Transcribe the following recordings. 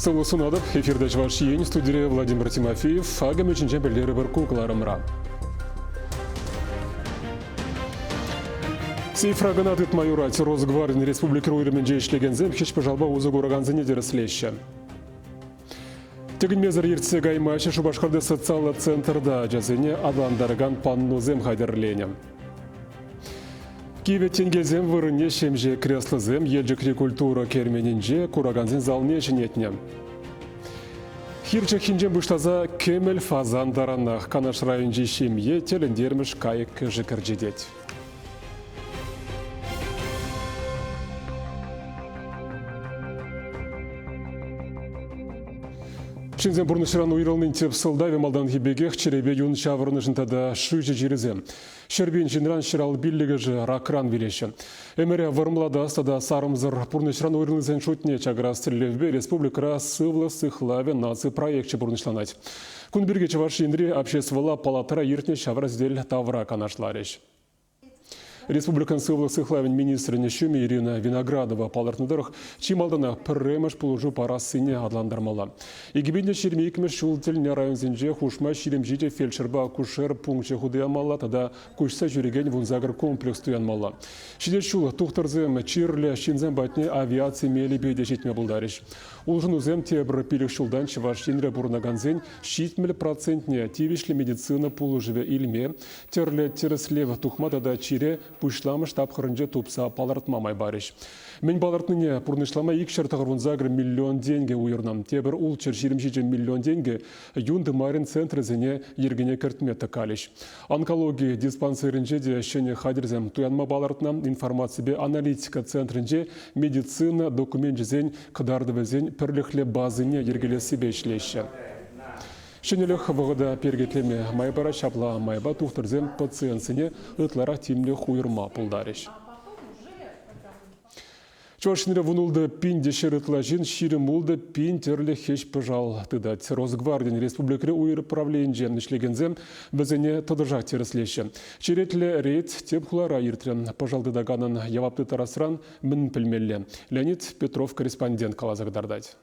Сывлӑх сунатӑп, эфирта Чӑваш Ен студире Владимир Тимофеев Агамӗ ҫинчен пӗлтере пӗр ку кӑларӑмра. Цифра кӑна тытма юрать. Росгвардин республика уйрӑмӗнче ӗҫлекенсем хӗҫ-пӑшалпа усӑ куракансене тӗрӗслеҫҫӗ. Тӗкӗнмесӗр ертсе каймаҫҫӗ Шупашкарти социаллӑ центрта ачасене аталантаракан панносем хатӗрленӗ. Кивӗ тенкелсем вырӑнне ҫемҫе креслӑсем Елчӗкри культура керменӗнче куракансен залне ҫӗнетнӗ. Хир чӑххинчен пуҫласа кӗмӗл фазан таранах Канаш районӗнчи ҫемье тӗлӗнтермӗш кайӑк-кӗшӗк ӗрчетет. Ҫынсен пурнӑҫран уйрӑлнин тӗп сӑлтавӗ малтанхи пекех чӗрепе юн ҫаврӑнӑшӑн тата шыҫӑ чирӗсем. Ҫӗр пин ҫынран ҫӗрал пиллӗкӗшӗ ракран вилеҫҫӗ. Ӗмӗре вӑрӑмлатас тата сарӑмсӑр пурнӑҫран уйрӑлнисен шутне чакарас тӗллевпе республикӑра Сывлӑх сыхлавӗ наци проекчӗ пурнӑҫланать. Кун пирки Чӑваш Енри Обществӑлла палатӑра иртнӗ ҫавра сӗтел тавра канашларӗҫ. Республикӑн сывлӑх сыхлавӗн министрӗн ҫумӗ Ирина Виноградова палӑртнӑ тӑрӑх, чи малтанах пӗрремӗш пулӑшу парассине аталантармалла. Икӗпенте ҫирӗм икмӗш ҫул тӗлне районсенче хушма ҫирӗмҫи те фельдшерпа акушер пункчӗ хутӑямалла тата куҫса ҫӳрекен вунсакӑр комплекс туянмалла. Ҫитес ҫул тухтӑрсем чирлӗ ҫынсем патне авиаци мелӗпе те ҫитме пултарӗҫ. Улшӑнусем тепӗр пилӗк ҫултан Чӑваш Енре пурӑнакансен ҫитмӗл процентне тивӗҫлӗ медицина пулӑшӑвӗ илме тӗрлӗ тӗрӗслев тухма тата чире пуҫламӑш тапхӑрӗнче тупса палӑртма май парӗҫ. Мӗн палӑртнине пурнӑҫлама икҫӗр тӑхӑрвунсакӑр миллион тенкӗ уйӑрнӑ. Тепӗр ултҫӗр ҫирӗм ҫичӗ миллион тенкӗ юн тымарӗн центрӗсене йӗркене кӗртме тӑкалӗҫ. Онкологи диспансерӗнче те ҫӗнӗ хатӗрсем туянма палӑртнӑ. Информаципе аналитика центрӗнче медицина докуменчӗсен кӑтартӑвӗсен пӗрлӗхлӗ базине йӗркелессипе ӗҫлеҫҫӗ. Ҫӗнӗлӗх вӑхӑта перкетлеме май парать, ҫапла майпа тухтӑрсем пациентсене ытларах тимлӗх уйӑрма пултарӗҫ. Чӑваш Енре вун ултӑ пин те ҫӗр ытла ҫын ҫирӗм ултӑ пин тӗрлӗ хӗҫ-пӑшал тытать. Росгвардин республикӑри уйрӑм правленинче ӗҫлекенсем вӗсене тӑтӑшах тӗрӗслеҫҫӗ. Черетлӗ рейд тӗп хулара иртрӗ. Пӑшал тытаканӑн явап тыттарасран мӗн пӗлмелле? Леонид Петров корреспондент каласа кӑтартать.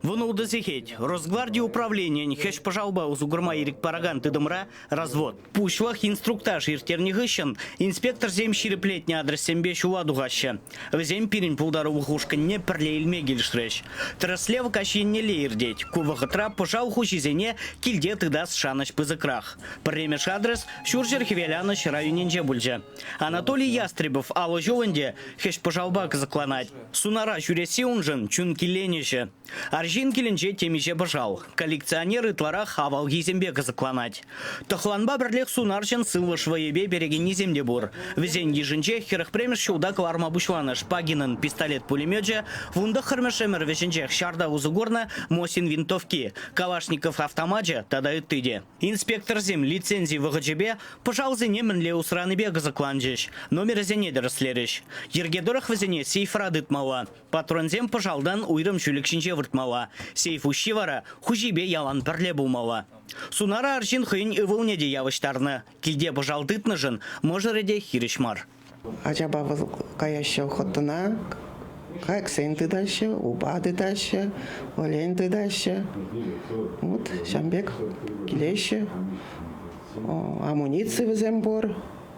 Вӑнултӑ сехет Росгварди управленийӗн хӗҫ-пӑшалпа усӑ курма ирӗк паракан тытӑмра развод. Пуҫлӑх инструктаж ирттернӗ хыҫҫӑн инспекторсем ҫирӗплетнӗ адрессемпе ҫула тухаҫҫӗ. Вӗсем пирӗн пултарулӑх ушкӑнне пӗрле илме килӗшрӗҫ. Тӗрӗслев каҫ еннелле иртет. Ку вӑхӑтра пӑшал хуҫисене килте тытас шанӑҫ пысӑкрах. Пӗрремеш адрес Ҫурҫӗр-Хӗвеланӑҫ районӗнче пулчӗ. Анатолий Ястребов алӑ ҫул ӗнтӗ хӗҫ-пӑшалпа кӑсӑкланать. Сунара ҫӳресси уншӑн, чун киленӗҫӗ. Арҫын килӗнче темиҫе пӑшал. Коллекционер ытларах авалхисемпе кӑсӑкланать. Тӑхланпа пӗрлех сунарҫӑн сывлӑш вӑйӗпе перекеннисем те пур. Вӗсен йышӗнче хӗрӗх премӗш ҫулта кӑларма пуҫланӑ Шпагинӑн пистолет-пулемечӗ, вунтӑххӑрмӗш ӗмӗр вӗҫӗнчех ҫарта усӑ курнӑ Мосин винтовки, Калашников автомачӗ тата ытти те. Инспекторсем лицензи вӑхӑчӗпе пӑшалсене мӗнле усранипе кӑсӑкланчӗҫ, номерӗсене тӗрӗслерӗҫ. Йӗрке тӑрӑх вӗсене сейфра тытмалла, патронсем пӑшалтан уйрӑм ҫӳлӗк ҫинче выртмалла, сейф уҫҫи вара хуҫипе ялан пӗрле пулмалла. Сунара арҫын хӑйӗн ывӑлне те явӑҫтарнӑ, килте пӑшал тытнӑшӑн мӑшӑрӗ те хирӗҫ мар. Ачапа вӑл каяҫҫӗ охотӑна, кайӑксен тытаҫҫӗ, упа тытаҫҫӗ, олень тытаҫҫӗ. Вот ҫав пек килеҫҫӗ. Амуници вӗсем пур.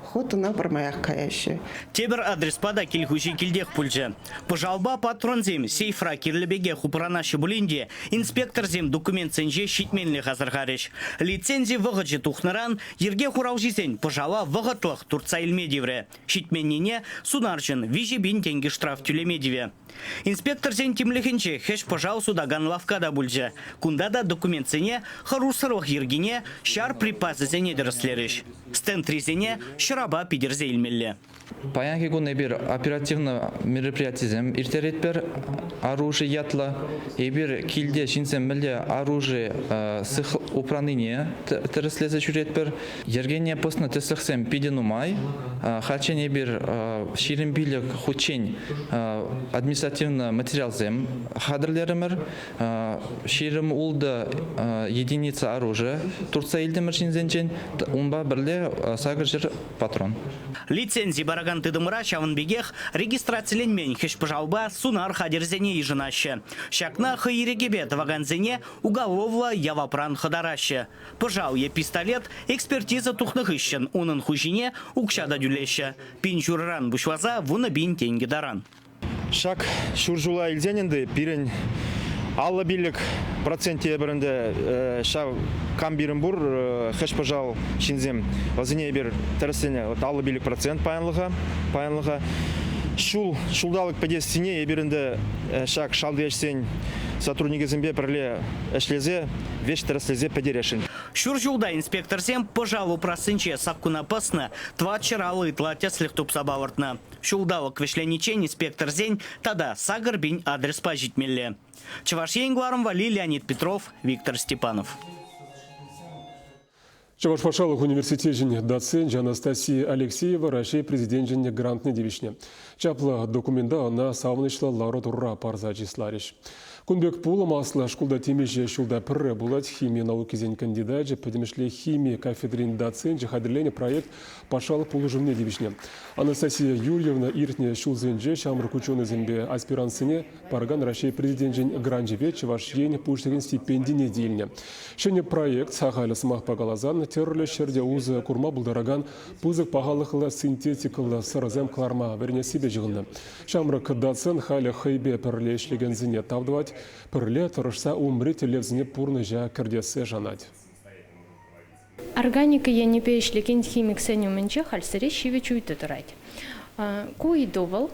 Охотӑна пӗрмаях каяҫҫӗ. Тепӗр адреспа та кил хуҫи килтех пулчӗ. Пӑшалпа патронсем сейфра кирлӗ пекех упранаҫҫӗ пулин те, инспекторсем документсенче ҫитменлӗх асӑрхарӗҫ. Лицензи вӑхӑчӗ тухнӑран Йӗрке хуралҫисен пӑшала вӑхӑтлӑх туртса илме тиврӗ, ҫитменнине сунарҫӑн виҫӗ пин тенкӗ штраф тӳлеме тивӗ. Инспекторсен тимлӗхӗнче хӗҫ-пӑшал сутакан лавкка та пулчӗ, кунта та документсене хӑрушсӑрлӑх йӗркине, ҫар припасӗсене тӗрӗслерӗҫ. Стендрисене ҫӑрапа питӗрсе илмелле. Паянхи кун эпир оперативлӑ мероприятисем ирттеретпӗр. Оружи ятлӑ. Эпир килте ҫынсем мӗнле оружие упранине тӗрӗслесе ҫӳретпӗр. Йӗркене пӑснӑ тӗслӗхсем питӗ нумай. Хальччен эпир ҫирӗм пилӗк хутчен административлӑ материалсем хатӗрлерӗмӗр. Ҫирӗм-ултӑ единица оружия туртса илтӗмӗр ҫынсенчен, унпа пӗрле сакӑр ҫӗр патрон. Лицензи паракан тытӑмра ҫавӑн пекех регистрациленмен хӗҫ-пӑшалпа сунар хатӗрӗсене йышӑнаҫҫӗ. Ҫакна хӑй ирӗкӗпе тӑвакансене уголовлӑ явапран хӑтараҫҫӗ. Пӑшал е пистолет экспертиза тухнӑ хыҫҫӑн унӑн хуҫине укҫа та тӳлеҫҫӗ, пин ҫурӑран пуҫласа вунӑ пин тенкӗ таран. Ҫак ҫур ҫула илсен ӗнтӗ пирӗн аллӑ пиллӗк процент эпир ӗнтӗ ҫав кам пирӗн пур хӗҫ-пӑшал ҫынсем вӗсене эпир тӗрӗсленӗ вот аллӑ пиллӗк процент паянлӑха паянлӑха ҫул ҫулталӑк пӗтессине эпир ӗнтӗ ҫак шалти ӗҫсен сотрудникӗсемпе пӗрле ӗҫлесе веҫ тӗрӗслесе пӗтересшӗн. Ҫур ҫулта инспекторсем пӑшал упрассинче саккуна пӑснӑ тӑватҫӗр алӑ ытла тӗслӗх тупса палӑртнӑ. Ҫулталӑк вӗҫлениччен инспекторсен тата сакӑр пин адреспа ҫитмелле. Чӑваш Ен кӑларӑм валли Леонид Петров, Виктор Степанов. Чӑваш патшалӑх университечӗн доценчӗ Анастасия Алексеева Раҫҫей Президенчӗн грантне тивӗҫнӗ. Чаплӑ документа ӑна савӑнӑҫлӑ лару-тӑрура парса чысларӗҫ. Кун пек пулӑм аслӑ шкулта темиҫе ҫулта пӗрре пулать. Хими наукисен кандидачӗ, пӗтӗмӗшле хими кафедрин доценчӗ хатӗрленӗ проект патшалӑх пулӑшӑвне тивӗҫнӗ. Анастасия Юрьевна иртнӗ ҫулсенче ҫамрӑк ученӑйсемпе аспиранссене паракан Раҫҫей Президенчӗн гранчӗпе Чӑваш Ен Пуҫлӑхӗн стипендине тивнӗ. Ҫӗнӗ проект, сахаль сӑмахпа каласан, тӗрлӗ ҫӗрте усӑ курма пултаракан пысӑк пахалӑхлӑ синтетикӑллӑ сӑрӑсем кӑларма вӗренессипе ҫыхӑннӑ. Ҫамрӑк доцент халӗ хӑйпе пӗрле ӗҫлекенсене тав тӑвать, пӗрле тӑрӑшса умри тӗллевсене пурнӑҫа кӗртессе шанать. Органика енӗпе ӗҫлекен химиксен умӗнче халь сире ҫивӗч ыйту тӑрать. Ку ыйту вӑл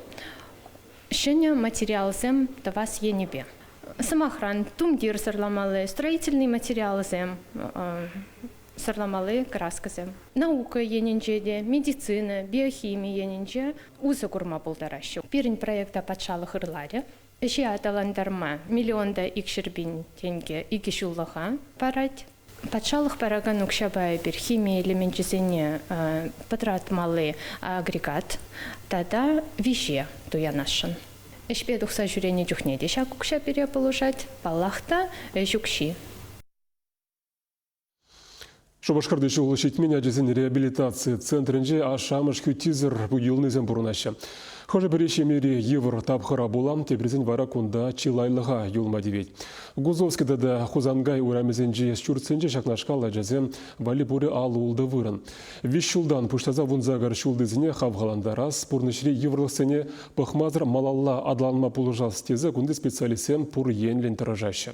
ҫӗнӗ материалсем тӑвас енӗпе. Сӑмахран, тумтир сӑрламалли, строительнӑй материалсем сӑрламалли краскӑсем. Наука енӗнче те, медицина, биохими енӗнче усӑ курма пултараҫҫӗ. Пирӗн проекта патшалӑх ырларӗ. Ӗҫе аталантарма миллион та икҫӗр пин тенкӗ икӗ ҫуллӑха парать. Патшалӑх паракан укҫапа эпир хими элеменчӗсене пӑтратмалли агрегат тата виҫе туянасшӑн. Ӗҫпе тухса ҫӳренӗ чухне те ҫак укҫа пире пулӑшать, паллах та, ӗҫ укҫи. Шупашкарти ҫул ҫитмен ачасен реабилитаци центрӗнче ашшӗ-амӑш хӳттисӗр юлнисем пурӑнаҫҫӗ. Хӑшӗ-пӗри ҫемьери йывӑр тапхӑра пула, теприсен вара кунта чылайлӑха юлма тивет. Гузовский тата Хусанкай урамӗсенчи ҫуртсенче ҫакнашкал ачасем валли пурӗ ал-ултӑ вырӑн. Виҫ ҫултан пуҫласа вунсакӑр ҫултисене хавхалантарас, пурнӑҫри йывӑрлӑхсене пӑхмасӑр малалла аталанма пулӑшас тесе кунти специалистсем пур енлӗн тӑрӑшаҫҫӗ.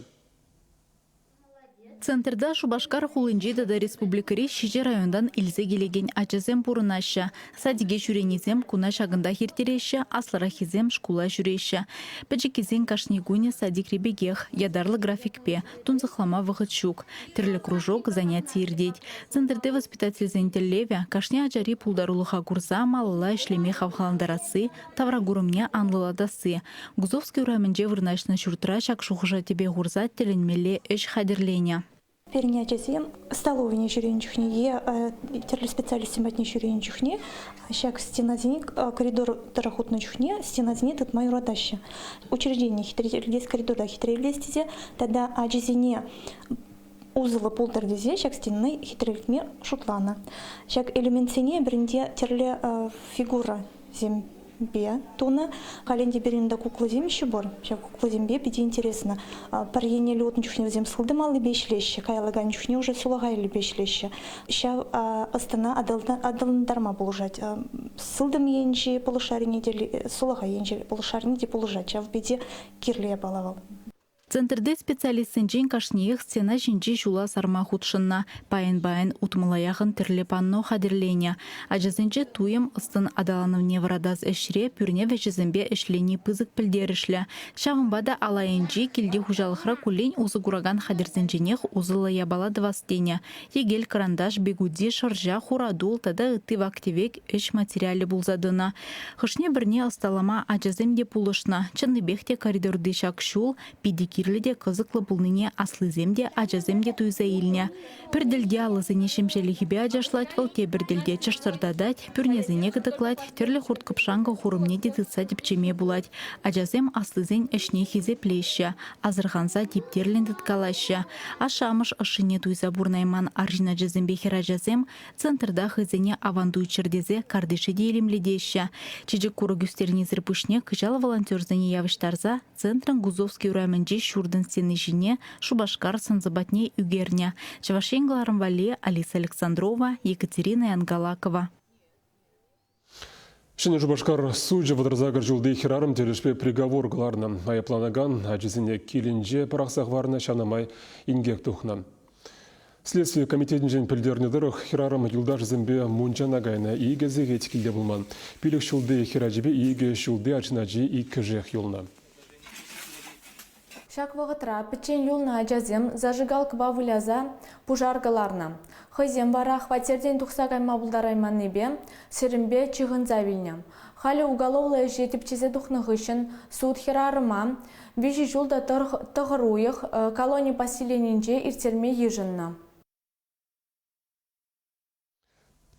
Центрта Шупашкар хулинчи тата республикӑри ҫичӗ районтан илсе килекен ачасем пурӑнаҫҫӗ. Садике ҫӳренисем куна ҫакӑнтах ирттереҫҫӗ, аслӑраххисем шкула ҫӳреҫҫӗ. Пӗчӗккисен кашни кунӗ садикри пекех, ятарлӑ графикпе, тунсӑхлама вӑхӑт ҫук. Тӗрлӗ кружок, заняти иртет. Центрти воспитательсен тӗллевӗ – кашни ачари пултарулӑха курса малалла ӗҫлеме хавхалантарасси, Тавракурӑмне анлӑлатасси. Гусовский урамӗнче вырнаҫнӑ ҫуртра ҫак шухӑша тӗпе хурса тӗлӗнмелле ӗҫ хатӗрленӗ. Пирӗн ачасем столовӑйне ҫӳренӗ чухне е тӗрлӗ специалистсем патне ҫӳренӗ чухне ҫак стенасене коридор тӑрӑх утнӑ чухне стенасене тытма юратаҫҫӗ. Учреждение хитрелес коридора хитрелес тесе тата ачисене усӑллӑ пултӑр тесе ҫак стенаны хитрелтме шутланӑ. Ҫак элементсене пирӗнте тӗрлӗ фигура земпе тунӑ. Календя Беринда кукласем еще пур. Ҫак кукласемпе питӗ интересно. Пӗр еннелле утнӑ чухне вӗсем сылтӑм аллипе ӗҫлеҫҫӗ, каялла кайнӑ чухне уже сулахай аллипе ӗҫлеҫҫӗ. Ҫав ӑстана аталантарма пулӑшать. Сылтӑм енчи полушарине те, сулахай енчи полушарине те пулӑшать. Ҫав питӗ кирлӗ япала вӑл. Центрти специалистсенчен кашниех стена ҫинчи ҫула сарма хутшӑннӑ. Пайӑн-пайӑн утмӑла яхӑн тӗрлӗ панно хатӗрленӗ. Ачасенче туйӑм ӑс-тӑн аталанӑвне вӑратас ӗҫре пӳрне вӗҫӗсемпе ӗҫлени пысӑк пӗлтерӗшлӗ. Ҫавӑнпа та ал айӗнчи килти хуҫалӑхра куллен усӑ куракан хатӗрсенченех усӑллӑ япала тӑвас тенӗ. Йӗкел-кӑранташ, бигуди, шӑрҫа, хуратул тата ытти вак-тӗвек ӗҫ материалӗ пулса тӑнӑ. Хӑшне-пӗрне ӑсталама ачасем те пулӑшнӑ. Чӑннипех те коридорти ҫак ҫул питӗ кирлӗ те кӑсӑклӑ пулнине аслисем те, ачасем те туйса илнӗ. Пӗр тӗлте алӑсене ҫемҫелӗхӗпе ачашлать вӑл, тепӗр тӗлте чӑштӑртатать, пӳрнесене кӑтӑклать, тӗрлӗ хурт-кӑпшанкӑ хурӑмне те тытса тӗпчеме пулать. Ачасем аслисен ӗҫне хисеплеҫҫӗ, асӑрханса типтерлӗн тыткалаҫҫӗ. Ашшӗ-амӑш ӑшшине туйса пурӑнайман арҫын ачасемпе хӗрачасем Центрта хӑйсене аван туйччӑр тесе картише те илемлетеҫҫӗ. Чечек курӑк ӳстернисӗр пуҫне кӑҫал волонтерсене явӑҫтарса центрӑн Гузовский урамӗнчи ҫуртӑн стени ҫине Шупашкар сӑнсӑ патне ӳкернӗ Чӑваш Ен кӑларӑм валли Алиса Александрова, Екатерина Янгалакова. Ҫӗнӗ Шупашкар сучӗ вӑтӑрсакӑр ҫулти хӗрарӑм тӗлӗшпе приговор кӑларнӑ. Айӑпланакан ачисене килӗнче пӑрахса хӑварнӑ, ҫанӑ май инкек тухнӑ. Следстви комитетӗнчен пӗлтернӗ тӑрӑх, хӗрарӑм юлташӗсемпе мунчана кайнӑ. Икӗ сехет килте пулман. Пилӗк ҫулти хӗрачипе икӗ ҫулти арҫын ачи иккӗшех юлнӑ. Ҫак вӑхӑтра пӗччен юлнӑ ачасем зажигалкӑпа выляса пушар кӑларнӑ. Хӑйсем вара хваттертен тухса кайма пултарайманнипе сирӗнпе ҫыхӑнса вилнӗ. Халӗ уголовлӑ ӗҫе тӗпчесе тухнӑ хыҫҫӑн суд хӗрарӑма виҫӗ ҫул та тӑхӑр уйӑх колони поселенинче ирттерме йышӑннӑ.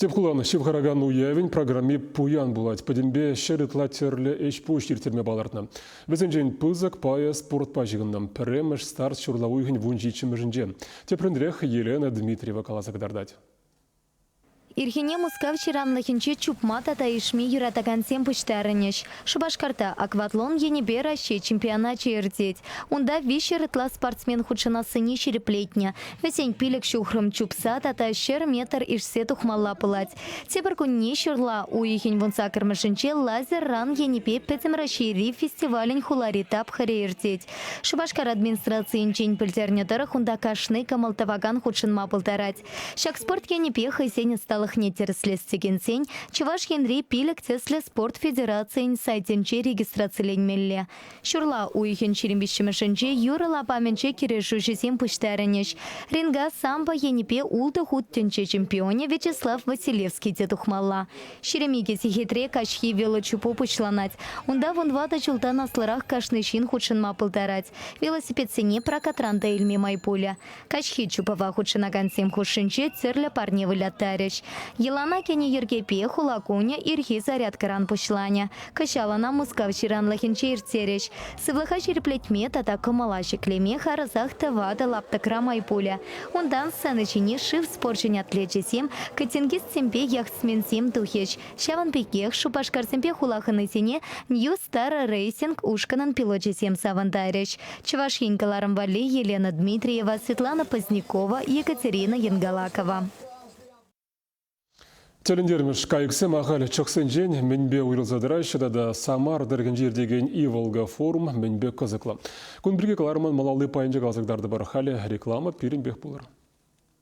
Тӗп хулан ҫывхаракан уявӗн программи пуян пулать. Пӗтӗмпе ҫӗр ытла тӗрлӗ ӗҫ-пуҫ ирттерме палӑртнӑ. Вӗсенчен пысӑк пайӗ спортпа ҫыхӑннӑ. Пӗрремӗш старт ҫурла уйӑхӗн вун ҫиччӗмӗшӗнче. Тепринрех Елена Дмитриева каласа кӑтартать. Ирхине Мускав ҫыранлӑхӗнче чупма тата ишме юратакансем пуҫтарӑнӗҫ. Шупашкарта акватлон енӗпе Раҫҫей чемпионачӗ иртет. Унта виҫҫӗр ытла спортсмен хутшӑнассине ҫирӗплетнӗ. Вӗсен пилӗк ҫухрӑм чупса тата ҫӗр метр ишсе тухмалла пулать. Тепӗр кунне ҫырла уйӑхӗн вунса кӗрмӗшӗнче лазер-ран енӗпе Пӗтӗм Раҫҫейри фестивалӗн хулари тапхӑрӗ иртет. Шупашкар администрацийӗнчен пӗлтернӗ тӑрӑх унта кашни кӑмӑл тӑвакан хутшӑнма пултарать. Ҫак спорт енӗпе хӑйсен ӑсталӑхне тӗрӗслес текенсен Чӑваш Енри пилӗк тӗслӗ спорт федерацийӗн сайтӗнче регистрациленмелле. Ҫурла уйӑхӗн ҫирӗм виҫҫӗмӗшӗнче юрӑ лапамӗнче кӗрешӳҫӗсем пуҫтарӑнӗҫ. Ренга самбо енӗпе ултӑ хут тӗнче чемпионӗ Вячеслав Василевский те тухмалла. Ҫирӗм икӗ сехетре каҫхи велочупу пуҫланать. Унта вун ватӑ ҫултан аслӑрах кашни ҫын хутшӑнма пултарать. Велосипедсене прокатран та илме май пулӗ. Каҫхи чупӑва хутшӑнакансем хушшинче тӗрлӗ парне выляттарӗҫ. Йӑлана кӗнӗ йӗркепе хула кунӗ ирхи зарядкӑран пуҫланӗ. Кӑҫал ӑна Мускав ҫыранлӑхӗнче ирттерӗҫ. Сывлӑха ҫирӗплетме тата кӑмӑла ҫӗклеме харӑсах тӑватӑ лаптӑкра май пулӗ. Унтан сцена ҫине шыв спорчӗн атлечӗсем, кӑтингистсемпе яхтсменсем тухӗҫ. Ҫавӑн пекех шупашкарсемпе хула хӑнисене New Star Racing ушкӑнӑн пилочӗсем савӑнтарӗҫ. Чӑваш Ен кӑларӑм валли Елена Дмитриева, Светлана Позднякова, Екатерина Енгалакова. Тӗлӗнтермӗш кайӑксем ахаль чӑхсенчен мӗнпе уйрӑлса тӑраҫҫӗ тата Самар тӑрӑхӗнче иртекен Иволга форум мӗнпе кӑсӑклӑ? Кун пирки кӑларӑмӑн малалли пайӗнче каласа кӑтартӑпӑр. Халӗ реклама пирӗнпех пулӑр.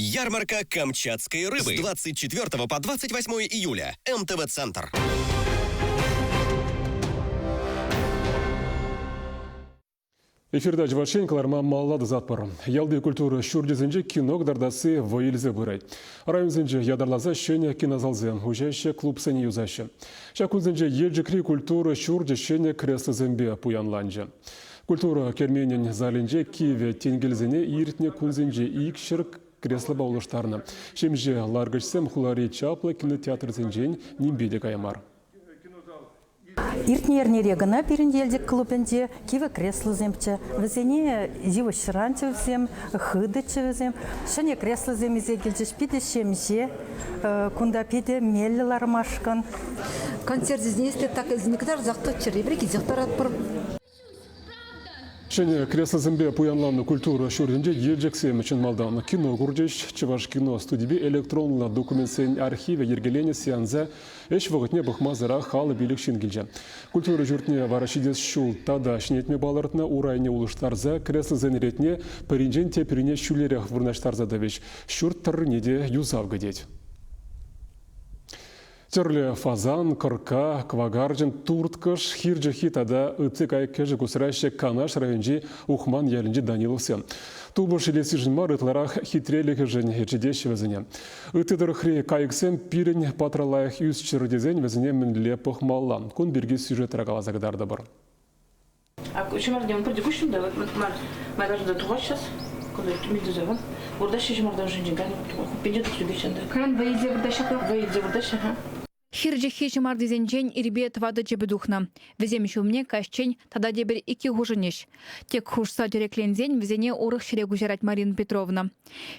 Ярмарка «Камчатской рыбы» с 24 по 28 июля. МТВ-центр. Эфирда чӑвашен кӑларма маллады затпӑр. Ялти культура ҫурчӗсенче кино кӑтартасси вӑй илсе пырать. Районсенче ятарласа ҫӗнӗ кинозалсем уҫаҫҫӗ, клубсене юсаҫҫӗ. Ҫак кунсенче Елчӗкри культура ҫурчӗ ҫӗнӗ креслосемпе пуянланчӗ. Культура керменӗн залӗнче кивӗ тенкелсене иртнӗ кунсенче икҫӗр креслопа улӑштарнӑ. Ҫемҫе ларкӑчсем хулари чаплӑ кинотеатрсенчен нимпе те кая мар. Иртнӗ эрнере кӑна пирӗн Елчӗк клубӗнче кивӗ креслосемччӗ. Вӗсене йывӑҫран чӗвсем, хытӑччӗ вӗсем. Ҫӗнӗ креслосем илсе килчӗҫ. Питӗ ҫемҫе. Кунта питӗ меллӗ лармашкӑн. Концерт-известие так извне кӑтартсах тӑччӑр, эпир килсех тӑратпӑр. Ҫӗнӗ креслосемпе пуянланнӑ культура ҫуртӗнче Елчӗксем чӑн малтан кино курчӗҫ. Чӑваш кино студипе электронлӑ документсен архивӗ йӗркеленӗ сеанса ӗҫ вӑхӑтне пӑхмасӑрах халӑ пилӗк ҫын килчӗ. Культура ҫуртне вара ҫитес ҫул тата ҫӗнетме палӑртнӑ урайне улӑштарса креслосен ретне пӗринчен теприне ҫӳлерех вырнаҫтарса тӑвӗҫ. Ҫурт тӑррине те юсав кӗтет. Тӗрлӗ фазан, кӑркка, кӑвакарчӑн, турткӑш, хир чӑххи тата ытти кайӑк-кӗшӗк усраҫҫӗ Канаш районӗнчи Ухман ялӗнчи Даниловсем. Тупӑш илессишӗн мар, ытларах хитрелӗхӗшӗн ӗрчетеҫҫӗ вӗсене. Ытти тӑрӑхри кайӑксем пирӗн патра лайӑх ӳсчӗр тесен вӗсене мӗнле пӑхмалла? Кун пирки сюжетра каласа кӑтартӑпӑр. Ҫӑмартсем пурте куҫҫуль та, май ташӑ та тухаҫҫӗ. Кунта мин тусемӗн. Выртаҫҫӗ ҫӑмартан ҫинчен кайнӑ хуппинче тӑс ӳкеҫҫӗ. Кайран вӑй илсе выртаҫҫӗ-ха. Вӑй илсе выртаҫҫӗ-ха. Хирчӗххи ҫӑмартисенчен ирпе тӑватӑ чӗпӗ тухнӑ. Вӗсем ҫумне каҫчен тата тепӗр икки хушӑнӗҫ. Тек хушса тӗрекленсен вӗсене урӑх ҫӗре куҫарать Марина Петровна.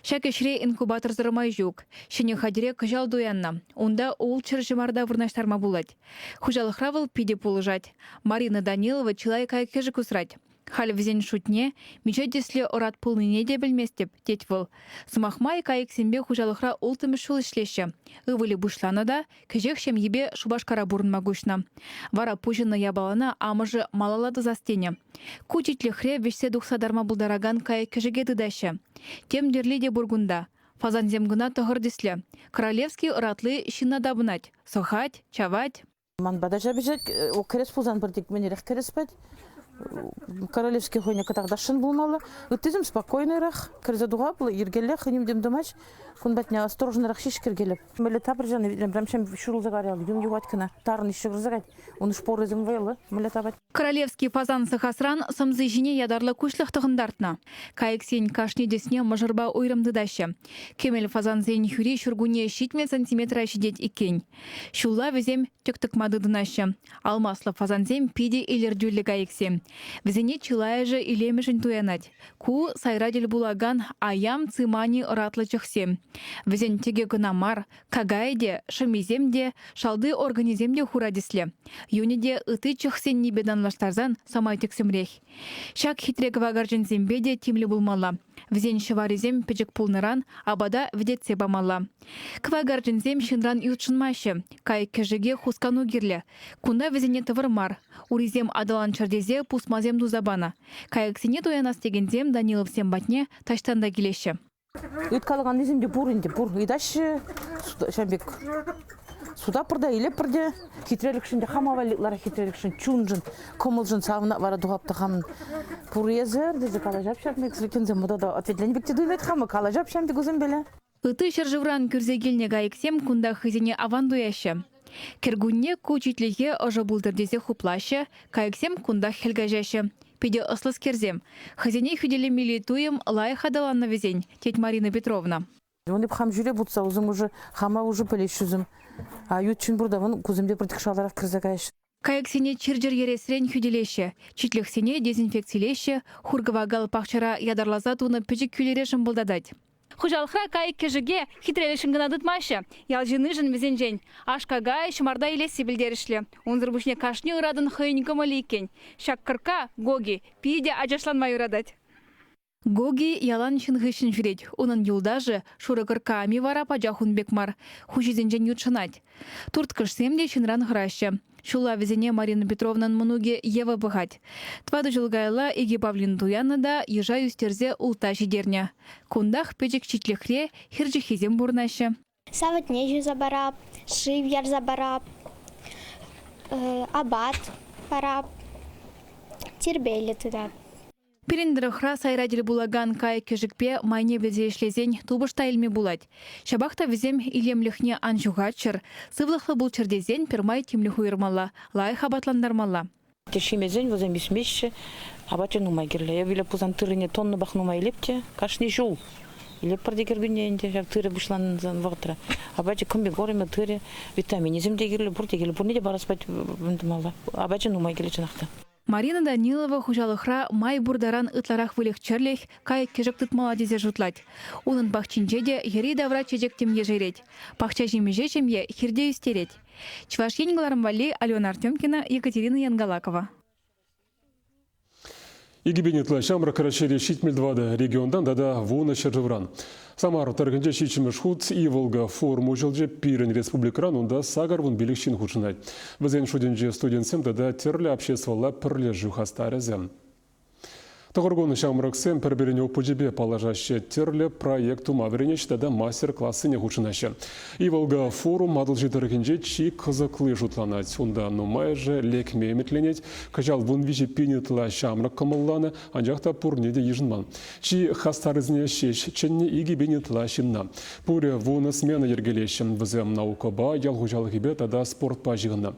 Ҫак ӗҫре инкубаторсӑр май ҫук. Ҫӗнӗ хатӗре кӑҫал туяннӑ. Унта ултҫӗр ҫӑмарта вырнаҫтарма пулать. Хуҫалӑхра вӑл питӗ пулӑшать. Марина Данилова чылай кайӑк-кӗшӗк усрать. Халь вӗсен шутне миҫе тӗслӗ ӑрат пулнине те пӗлместӗп, тет вӑл. Сӑмах май, кайӑксемпе хуҫалӑхра улттӑмӗш ҫул ӗҫлеҫҫӗ. Ывӑлӗ пуҫланӑ та кӗҫех ҫемйипе Шупашкара пурӑнма куҫнӑ. Вара пуҫӑннӑ япалана амӑшӗ малалла тӑсас тенӗ. Ку титлӗхре вӗҫсе тухса тарма пултаракан кайӑк-кӗшӗке тытаҫҫӗ. Тем тӗрли те пур кунта. Фазансем кӑна тӑхӑр тӗслӗ. Королевский ӑратли ҫынна тапӑнать, сӑхать, чавать. Ман пата ҫапӑҫать, кӗрес пулсан пӗр тикменерех кӗрес пӗт. Королевский хӑйне кӑтартасшӑн пулмалла. Ыттисем спокойныйрах, кӗрсе тухаплӑ, йӗркеллех ним-тим тумасть. Кун патне осторожнӑрах ҫеҫ кӗркелеп. Мӗнле тапӑрчан витнӗ, прям ҫын ҫурӑлса каять, юн юхать кӑна. Тарӑн ҫывӑрса каять. Ун шпорӗсем вӑйлӑ, мӗнле тапать. Королевский пасан сӑхасран сӑмси ҫине ятарлӑ куҫлӑх тӑхӑнтартнӑ. Кайӑксен кашни тӗсне мӑшӑрпа уйрӑм тытаҫҫӗ. Кӗмӗл фасансен хӳри ҫуркунне ҫитмӗл сантиметра ҫитет иккен. Ҫулла вӗсем тӗк тӑкма тытӑнаҫҫӗ. Алмаслӑ фасансем питӗ илӗртӳллӗ кайӑксем. Вӗсене чылайӑшӗ илемӗшӗн туянать. Ку сайра тӗл пулакан аям цимани ӑратлӑ чӑхсем. Вӗсен тӗкӗ кӑна мар, Какая те, шӑмисем те, шалти органӗсем те хура тӗслӗ. Юнӗ те ытти чӑхсеннипе танлаштарсан самай тӗксӗмрех. Ҫак хитре кӑвакарчӑнсемпе те тимлӗ пулмалла. Вӗсен ҫӑварисем пӗчӗк пулнӑран апата вӗтетсе памалла. Кӑвакарчӑнсем ҫынран ютшӑнмаҫҫӗ. Кайӑк-кӗшӗке хускану кирлӗ. Кунта вӗсене тӑвӑр мар. Урисем аталанччӑр тесе пусмасем туса панӑ. Кайӑксене туянас текенсем Даниловсем патне таҫтан та килеҫҫӗ. Ыйткалаканнисем те пур ӗнтӗ, пур. Ыйтаҫҫӗ ҫавӑн пек сутаппӑр та илеппӗр те хитрелӗхшӗн те хама валли ытларах хитрелӗхшӗн чуншӑн, кӑмӑлшӑн савӑнать вара тухап та хам пур эсӗ тесе калаҫап ҫав пек сӗлекенсем та ответлени пек те туйӑнать хама калаҫап ҫав пек вӗсемпеле. Ытти ҫӗршывран кӳрсе килнӗ кайӑксем кунтах хӑйсене аван туяҫҫӗ. Кӗркунне ку читлӗхе ӑшӑ пултӑр тесе хуплаҫҫӗ, кайӑксем кунтах хӗл каҫаҫҫӗ. Питӗ ӑслӑскерсем. Хӑйсене хӳтӗлемелли туйӑм лайӑх аталаннӑ вӗсен, тет Марина Петровна. Вӗсем хам ҫӳре путса усӑ хама усӑ пӗлеҫҫӗ вӗсем. А ют ҫын пурта вӑн кусемпе пӗртӗк шалтарах кӗрсе каҫ. Кайӑксене чир-чӗр ересрен хӳтӗлеҫҫӗ, читлӗхсене дезинфекцилеҫҫӗ, хур-кӑвакал пахчара ятарласа тунӑ пӗчӗк кӳлӗре шӑмпӑлтатать. Хуҫалӑхра кайӑк-кӗшӗке хитре-лӗшӗн кӑна тытмаҫҫӗ. Ял ҫыннишӗн вӗсенчен аш-какай, ҫӑмарта илесси пӗлтерӗшлӗ. Унсӑр пуҫне кашни ыратӑн хӑйӗн кӑмӑлӗ иккен. Ҫак кӑркка, Гоги, питӗ ачашланма юратать. Гоги ялан ҫын хыҫҫӑн ҫӳрет. Унӑн юлташӗ, шурӑ кӑркками вара пачах ун пек мар, хуҫисенчен ютшӑнать. Турткӑшсем те ҫынран хӑраҫҫӗ. Ҫулла вӗсене Марина Петровнан мӑнукӗ Ева пӑхать. Тӑватӑ ҫул каялла икӗ павлин туяннӑ та йыша ӳстерсе ултта ҫитернӗ. Кунтах пӗчӗк читлӗхре хир ҫыххисем пурӑнаҫҫӗ. савӑтне ҫуса парап, шыв ярса парап, апат парап, тирпейлӗ тата. Пирӗн тӑрӑхра сайра тӗл пулакан кайӑк-кӗшӗкпе майне вӗлсе ӗҫлесен тупӑш та илме пулать. Ҫапах та вӗсем илемлӗхне ан ҫухатчӑр, сывлӑхлӑ пулччӑр тесен пӗрмай тимлӗх уйӑрмалла, лайӑх апатлантармалла. Тӗшшимесен вӗсем ӳсмеҫҫӗ. Апачӗ нумай кирлӗ. Эпӗ илеп пулсан тыррине тоннӑпах нумай илеп те кашни ҫул илеппӗр те кӗркунне ӗнтӗ ҫак тырӑ пуҫлансан вӑхӑтра. Апачӗ комбикормӗ тырӑ, витаминӗсем те кирлӗ, пурте кирлӗ. Пурне те парас пать тумалла. Апачӗ нумай кирлӗ чӑнах та. Марина Данилова хуҫалӑхра май пур таран ытларах выльӑх-чӗрлӗх, кайӑк-кӗшӗк тытмалла тесе шутлать. Унӑн пахчинче те йӗри-тавра чечек тем ешерет. Пахча ҫимӗҫе ҫемье хирте ӳстерет. Чӑваш Ен кӑларӑм валли Алена Артемкина, Екатерина Янгалакова. Икӗпен ытла ҫамрӑк Раҫҫейри ҫитмӗл тӑватӑ регионтан тата вунӑ ҫӗршывран. Самар тӑрӑхӗнче ҫиччӗмӗш хут ивӑлка форум уҫӑлчӗ. Пирӗн республикӑран унта сакӑр вун пилӗк ҫын хутшӑнать. Вӗсен шутӗнче студентсем тата тӗрлӗ обществӑлла пӗрлешӳ хастарӗсем. Тӑхӑр кун ҫамрӑксем пӗр-пӗрин опычӗпе паллашаҫҫӗ, тӗрлӗ проект тума вӗренеҫҫӗ тата мастер-классене хутшӑнаҫҫӗ. Иволга форум Атӑлҫи тӑрӑхӗнче чи кӑсӑкли шутланать. Унта нумайӑшӗ лекме ӗмӗтленет. Кӑҫал вун виҫӗ пин ытла ҫамрӑк кӑмӑлланӑ, анчах та пурне те йышӑнман. Чи хастаррисене ҫеҫ чӗннӗ икӗ пин ытла ҫынна. Пурӗ вунӑ смена йӗркелеҫҫӗ. Вӗсем наукӑпа, ял хуҫалӑхӗпе тата спортпа ҫыхӑннӑ.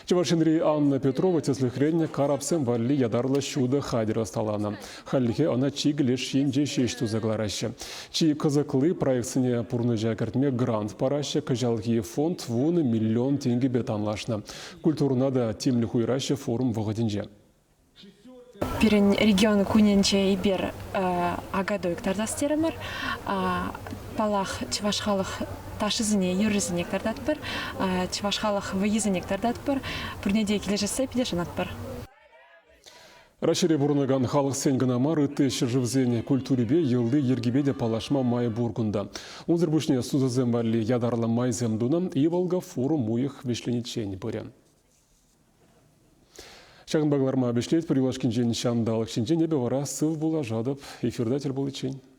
Чӑваш Енри Анна Петрова, тӗслӗхрен, карапсем валли ятарлӑ ҫутӑ хатӗр ӑсталанӑ. Хальлӗхе ӑна чикӗ леш енче ҫеҫ туса кӑлараҫҫӗ. Чи кӑсӑкли проектсене пурнӑҫа кӗртме грант параҫҫӗ. Кӑҫалхи фонд вунӑ миллион тенкӗпе танлашнӑ. Культурӑна та тимлӗх уйӑраҫҫӗ форум вӑхӑтӗнче. Пирӗн регион кунӗнче эпир акатуй кӑтартас терӗмӗр. Паллах, чӑваш халӑх ташисене, юррисене кӑтартатпӑр, чӑваш халӑх вӑййисене кӑтартатпӑр. Пурне те килӗшессе питӗ шанатпӑр. Раҫҫейре пурӑнакан халӑхсен кӑна мар, ытти ҫӗршывсен культурипе, йӑли-йӗркипе те паллашма май пур кунта. Унсӑр пуҫне сусӑсем валли ятарлӑ майсем тунӑ. Иволга форум уйӑх вӗҫлениччен пырӗ. Ҫакӑнпа кӑларма вӗҫлетпӗр юлашкинчен ҫанталӑк ҫинчен. Эпӗ вара сыв пуллашатӑп эфирта тӗл пуличчен.